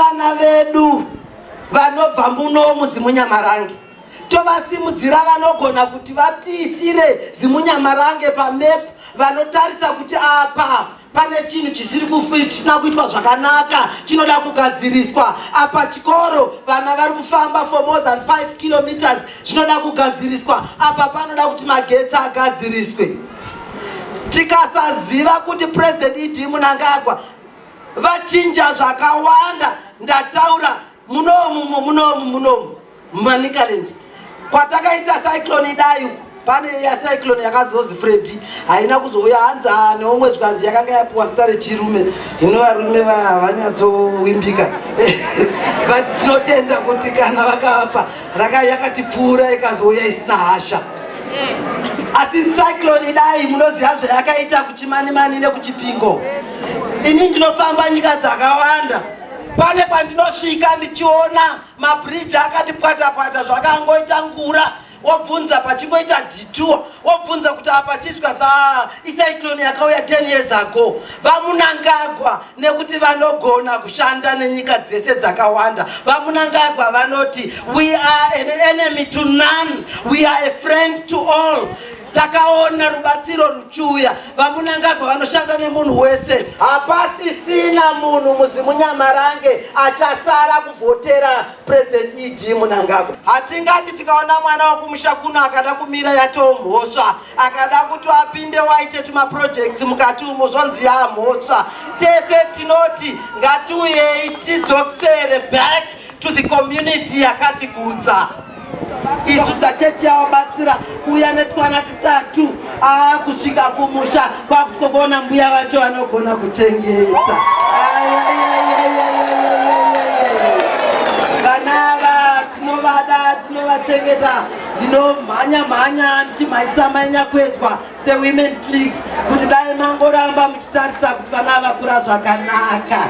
Vana vedu vanobva muno muZimunyamarange tovasimudzira vanogona kuti vatiisire Zimunyamarange pamap vanotarisa kuti apa pane chinhu chisiri chisina kuitwa zvakanaka chinoda kugadziriswa apa chikoro vana vari kufamba for more than 5 kilometers zvinoda kugadziriswa apa panoda kuti magetsi agadziriswe tikasaziva kuti president idi munangagwa vachinja zvakawanda ndataura munomu munomu munomu manicaland kwatakaita cyclone idai uku pane yacyclone yakazonzi fredi haina kuzouya hanzi ah, neumwe zvikanzi yakanga yapiwa zita rechirume ino varume havanyatsowimbika but tinotenda kuti kana vakavapa raka yakatipfuura ikazouya isina hasha asi cyclone idai munoziva zvayakaita kuchimanimani nekuchipingo ini ndinofamba nyika dzakawanda pane pandinosvika ndichiona mabridge akati pwatapwata zvakangoita ngura wobvunza pachingoita dituo wobvunza kuti apa chidya sa icyclone yakauya 10 years ago vamunangagwa nekuti vanogona kushanda nenyika dzese dzakawanda vamunangagwa vanoti we are an enemy to none we are a friend to all Takaona rubatsiro ruchiuya. VaMunangagwa vanoshanda nemunhu wese. Hapasisina munhu muZimunyamarange achasara kuvhotera President ED Munangagwa. Hatingati tikaona mwana wekumusha kuno akada kumira yatoo mhosva. Akada kuti apinde waite tumaprojects mukati umo zvonzi yaa mhosva. Tese tinoti ngatiuyei tidzokisere back to the community yakatigutsa. isu tachechi yavabatsira kuuya netwana tutatu aa kusvika kumusha kwakusvika kuona mbuya vacho vanogona kuchengeta vana ava tinovada tinovachengeta ndinomhanya mhanya ndichimhanyisa mainyakwedzwa sewomens league kuti dai mangoramba muchitarisa kuti vana vakura zvakanaka